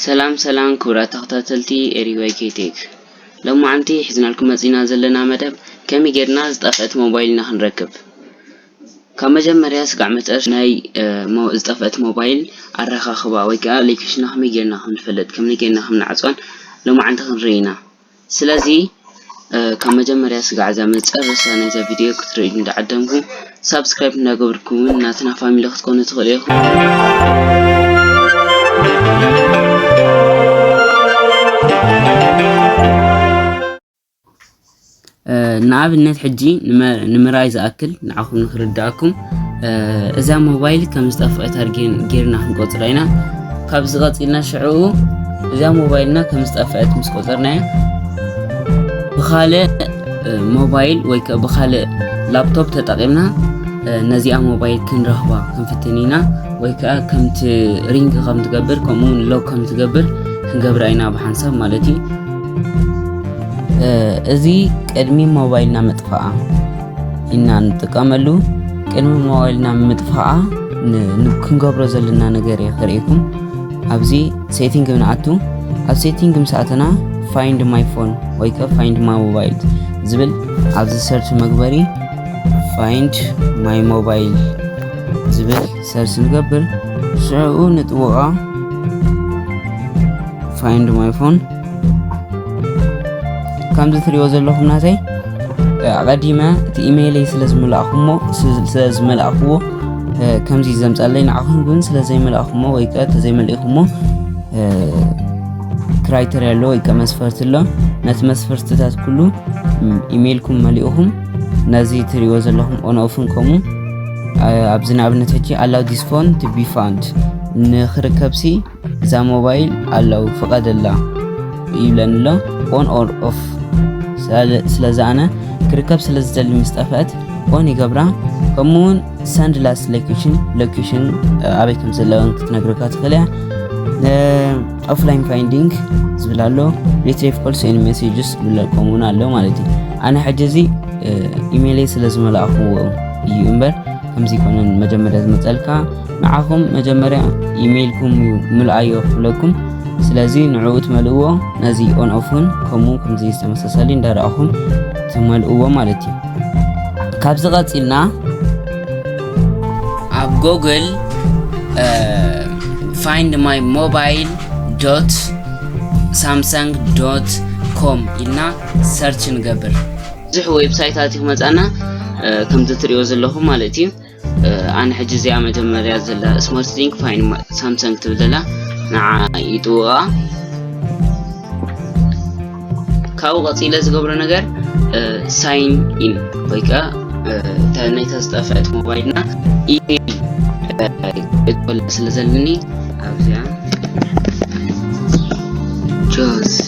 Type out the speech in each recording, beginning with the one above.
ሰላም ሰላም ክቡራት ተኸታተልቲ ኤሪዋይ ኬቴክ ሎማዓንቲ ሒዝናልኩም መፂና ዘለና መደብ ከመይ ጌርና ዝጠፍአት ሞባይልና ክንረክብ ካብ መጀመርያ ስጋዕ መጨረሽ ናይ ዝጠፍአት ሞባይል ኣረኻኽባ ወይ ከዓ ሌኬሽና ከመይ ጌርና ከም ንፈልጥ ከመይ ጌርና ከም ንዓፅዋን ሎማዓንቲ ክንርኢ ኢና ስለዚ ካብ መጀመርያ ስጋዕ እዛ መጨረሻ ናይዛ ቪድዮ ክትርእዩ እንዳዓደምኩ ሳብስክራይብ እንዳገበርኩም ውን ናትና ፋሚሊ ክትኮኑ ትኽእሉ ኢኹም። ንኣብነት ሕጂ ንምርኣይ ዝኣክል ንዓኹም ንክርዳኣኩም እዛ ሞባይል ከም ዝጠፍቐት ኣርጌን ጌርና ክንቆጽራ ኢና ካብ ዝቐጺልና ሽዑኡ እዛ ሞባይልና ከም ዝጠፍዐት ምስ ቆጸርናያ ብካልእ ሞባይል ወይ ከ ብካልእ ላፕቶፕ ተጠቒምና ነዚኣ ሞባይል ክንረኽባ ክንፍትን ኢና ወይ ከዓ ከምቲ ሪንግ ከም ትገብር ከምኡውን ሎግ ከም ትገብር ክንገብራ ኢና ብሓንሳብ ማለት እዩ እዚ ቅድሚ ሞባይልና ምጥፋኣ ኢና ንጥቀመሉ ቅድሚ ሞባይልና ምጥፋኣ ክንገብሮ ዘለና ነገር እየ ክርእኩም ኣብዚ ሴቲንግ ንኣቱ ኣብ ሴቲንግ ምስ ኣተና ፋይንድ ማይ ፎን ወይ ከ ፋይንድ ማይ ሞባይል ዝብል ኣብዚ ሰርች መግበሪ ፋይንድ ማይ ሞባይል ዝብል ሰርች ንገብር ሽዑኡ ንጥውዖ ፋይንድ ማይ ፎን ከምዚ ትሪኦ ዘለኹም ናተይ ኣቐዲመ እቲ ኢሜይለይ ስለ ዝመላእኹሞ ስለ ዝመላእኽዎ ከምዚ ዘምፃለይ ንዓኹም ግን ስለ ዘይመላእኹሞ ወይ ከ ተዘይመልእኹሞ ክራይተርያ ኣሎ ወይ ከ መስፈርቲ ኣሎ ነቲ መስፈርትታት ኩሉ ኢሜይልኩም መሊእኹም ነዚ ትሪኦ ዘለኹም ኦንኦፍን ከምኡ ኣብዚ ንኣብነት ሕጂ ኣላው ዲስ ፎን ቱ ቢ ፋውንድ ንክርከብሲ እዛ ሞባይል ኣለው ፍቐደላ ይብለኒ ኣሎ ኦን ኦር ኦፍ ስለዚ ኣነ ክርከብ ስለ ዝደሊ ምስ ጠፍአት ኦን ይገብራ ከምኡ እውን ሰንድ ላስ ሎኬሽን ሎኬሽን ኣበይ ከም ዘለወን ክትነግረካ ትኽእል እያ ኦፍላይን ፋይንዲንግ ዝብል ኣሎ ሪትሪቭ ኮልስ ን ሜሴጅስ ዝብል ከምኡ እውን ኣሎ ማለት እዩ ኣነ ሕጂ እዚ ኢሜይለይ ስለ ዝመላእኽዎ እዩ እምበር ከምዚ ይኮነን መጀመርያ ዝመፀልካ ንዓኹም መጀመርያ ኢሜይልኩም እዩ ምልኣዮ ክፍለኩም ስለዚ ንዕኡ ትመልእዎ ነዚ ኦን ኦፍ እውን ከምኡ ከምዚ ዝተመሳሰሊ እንዳረኣኹም ትመልእዎ ማለት እዩ ካብዚ ቀፂልና ኣብ ጎግል ፋይንድ ማይ ሞባይል ዶት ሳምሰንግ ዶት ኮም ኢልና ሰርች ንገብር ብዙሕ ዌብሳይታት እዩ መፃና ከምዚ ትሪኦ ዘለኹም ማለት እዩ ኣነ ሕጂ እዚኣ መጀመርያ ዘላ ስማርት ሊንክ ፋይን ሳምሰንግ ትብል ዘላ ንዓ ይጥውቃ ካብኡ ቀፂለ ዝገብሮ ነገር ሳይን ኢን ወይ ከዓ ናይታ ዝጠፍዐት ሞባይልና ኢሜይል እትበላ ስለ ዘለኒ ኣብዚኣ ጆሴ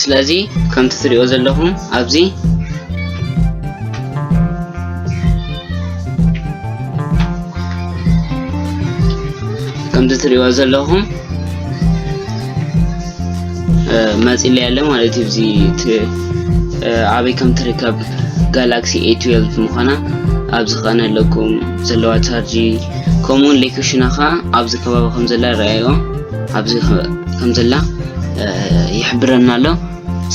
ስለዚ ከምቲ ትሪኦ ዘለኹም ኣብዚ ከምዚ ትሪኦ ዘለኹም መጺለ ያለ ማለት እዩ እዚ ኣበይ ከም ትርከብ ጋላክሲ A12 ምዃና ኣብዚ ከኣ ኣለኩም ዘለዋ ቻርጂ ከምኡውን ሌኮሽና ከዓ ኣብዚ ከባቢ ከም ዘላ ይረኣዮ ኣብዚ ከም ዘላ ይሕብረና ኣሎ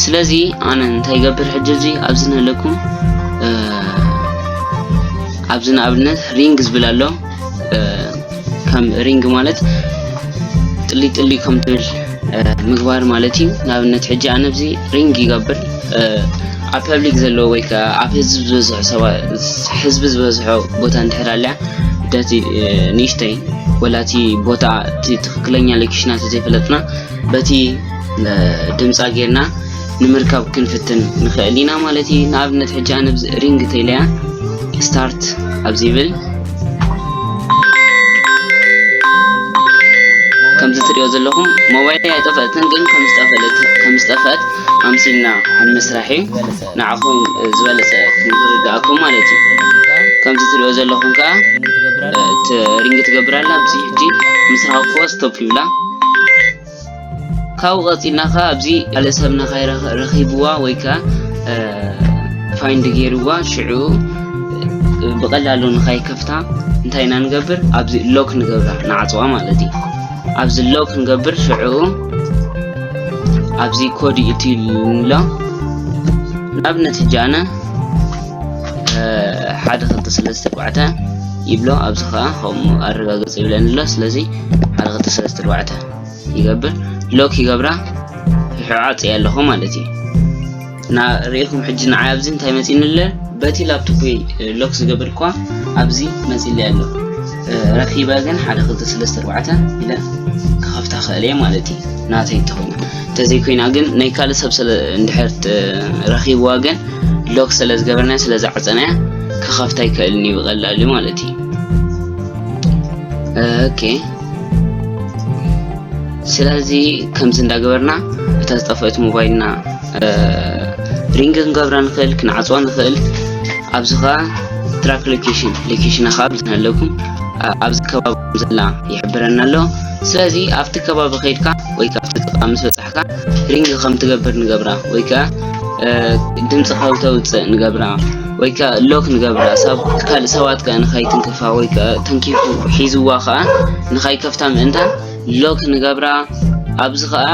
ስለዚ ኣነ እንታይ ይገብር ሕጂ እዚ ኣብዚ ንለኩም ኣብዚ ንኣብነት ሪንግ ዝብል ኣሎ ከም ሪንግ ማለት ጥሊ ጥሊ ከም ትብል ምግባር ማለት እዩ ንኣብነት ሕጂ ኣነ ብዚ ሪንግ ይገብር ኣብ ፐብሊክ ዘለዎ ወይ ከዓ ኣብ ህዝቢ ዝበዝሖ ሰባት ህዝቢ ዝበዝሖ ቦታ እንድሕር ኣልያ ደቲ ንእሽተይ ወላ እቲ ቦታ እቲ ትክክለኛ ሎኬሽና ተዘይፈለጥና በቲ ድምፃ ጌርና ንምርካብ ክንፍትን ንክእል ኢና ማለት እዩ ንኣብነት ሕጂ ኣነ ብዚ ሪንግ ተይለያ ስታርት ኣብዚ ይብል ከምዚ ትሪኦ ዘለኹም ሞባይል ኣይጠፈእትን ግን ከም ዝጠፈእት ኣምሲልና ኣብ ምስራሕ እዩ ንዓኹም ዝበለፀ ክንርድኣኩም ማለት እዩ ከምዚ ትሪኦ ዘለኹም ከዓ ሪንግ ትገብር ኣላ ኣብዚ ሕጂ ምስራሕ ክወ ስቶፕ ይብላ ካብኡ ቀጺልና ከ ኣብዚ ካልእ ሰብ ነካይ ረኺብዋ ወይ ከ ፋይንድ ገይርዋ ሽዑ ብቐላሉ ንካይ ከፍታ እንታይ ኢና ንገብር ኣብዚ ሎክ ንገብራ ንዓጽዋ ማለት እዩ ኣብዚ ሎክ ንገብር ሽዑ ኣብዚ ኮድ እቲ ንብሎ ንኣብነት ሕጂ ኣነ ሓደ ክልተ ሰለስተ ኣርባዕተ ይብሎ ኣብዚ ከዓ ከምኡ ኣረጋግጽ ይብለኒ ኣሎ ስለዚ ሓደ ክልተ ሰለስተ ኣርባዕተ ይገብር ሎክ ይገብራ ይሕዓፅ እየ ኣለኹ ማለት እዩ እና ርእኹም ሕጂ ንዓይ ኣብዚ እንታይ መፂኒ ኣለ በቲ ላፕቶፕ ሎክ ዝገብር እኳ ኣብዚ መፂለ ኣሎ ረኪበ ግን ሓደ ክልተ ሰለስተ ኣርባዕተ ኢለ ክኸፍታ ክእል እየ ማለት እዩ ናተይ እንተኾይና እንተዘይኮይና ግን ናይ ካልእ ሰብ እንድሕር ረኪብዋ ግን ሎክ ስለ ዝገበርናያ ስለ ዝዓፀናያ ክኸፍታ ኣይክእልን እዩ ብቐላሉ ማለት እዩ ኦኬ ስለዚ ከምዚ እንዳገበርና እታ ዝጠፈአት ሞባይልና ሪንግ ክንገብራ ንኽእል ክንዓፅዋ ንኽእል ኣብዚ ከዓ ትራክ ሎኬሽን ሎኬሽና ከዓ ብዝነለኩም ኣብዚ ከባቢ ዘላ ይሕብረና ኣሎ ስለዚ ኣብቲ ከባቢ ከይድካ ወይ ካብቲ ጥቃ ምስ በፃሕ ከለኻ ሪንግ ከም ትገብር ንገብራ ወይ ከኣ ድምፂ ካብ ተውፅእ ንገብራ ወይ ከኣ ሎክ ንገብራ ሳብ ካልእ ሰባት ከኣ ንኸይትንክፋ ወይ ከኣ ተንኪፉ ሒዝዋ ከኣ ንኸይከፍታ ምእንታ ሎክ ንገብራ ኣብዚ ከኣ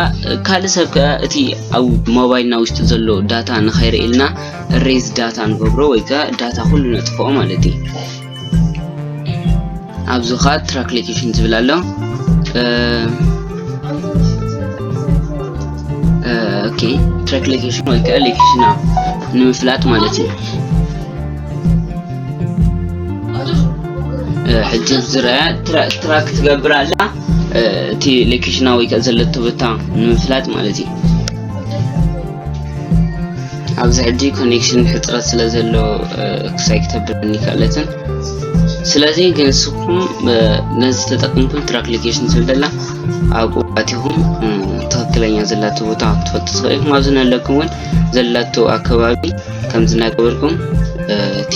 ካልእ ሰብ ከኣ እቲ ኣብ ሞባይልና ውሽጢ ዘሎ ዳታ ንኸይርእልና ሬዝ ዳታ ንገብሮ ወይ ከኣ ዳታ ኩሉ ነጥፍኦ ማለት እዩ ኣብዚ ከዓ ትራክ ሎኬሽን ዝብል ኣሎ ኦኬ ትራክ ሎኬሽን ወይ ከዓ ሎኬሽና ንምፍላጥ ማለት እዩ ሕጂ ዝረኣ ትራክ ትገብር ኣላ እቲ ሎኬሽና ወይ ከዓ ዘለቶ ቦታ ንምፍላጥ ማለት እዩ ኣብዚ ሕጂ ኮኔክሽን ሕፅረት ስለ ዘሎ ክሳይ ክተብለኒ ክኣለትን ስለዚ ግን ንስኹም ነዚ ተጠቅምኩም ትራክሊኬሽን ስል ዘላ ኣብኡ ኣቲኹም ትክክለኛ ዘላቶ ቦታ ክትፈልጡ ትኽእል ኢኹም ኣብዚ ነለኩም እውን ዘላቶ ኣከባቢ ከምዚ እናገበርኩም እቲ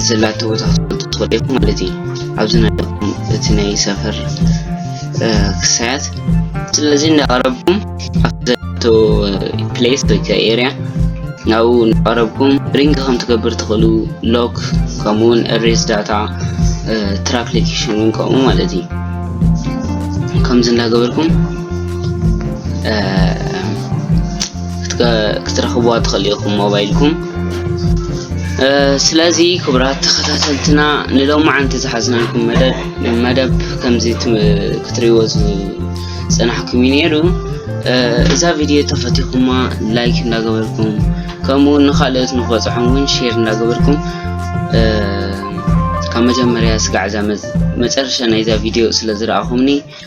ዘላቶ ቦታ ክትፈልጡ ትኽእሉ ኢኹም ማለት እዩ ኣብዚ ናይኹም እቲ ናይ ሰፈር ክሳያት ስለዚ እንዳቐረብኩም ኣብቲ ዘላቶ ፕሌስ ወይ ከ ኤርያ ናብኡ እንዳቐረብኩም ሪንግ ከም ትገብር ትኽእሉ ሎክ ከምኡውን ሬስ ዳታ ትራክ ሎኬሽን እውን ከምኡ ማለት እዩ ከምዚ እንዳገበርኩም ክትረኽብዋ ትኽእሉ ኢኹም ሞባይልኩም ስለዚ ክቡራት ተኸታተልትና ንሎማዓንቲ ዝሓዝናልኩም መደብ መደብ ከምዚ ክትሪእዎ ዝፀናሕኩም እዩ ነይሩ እዛ ቪድዮ ተፈቲኹማ ላይክ እንዳገበርኩም ከምኡ እውን ንካልኦት ንክበፅሖም እውን ሼር እንዳገበርኩም ካብ መጀመርያ ስጋዕ እዛ መጨረሻ ናይዛ ቪድዮ ስለ ዝረኣኹምኒ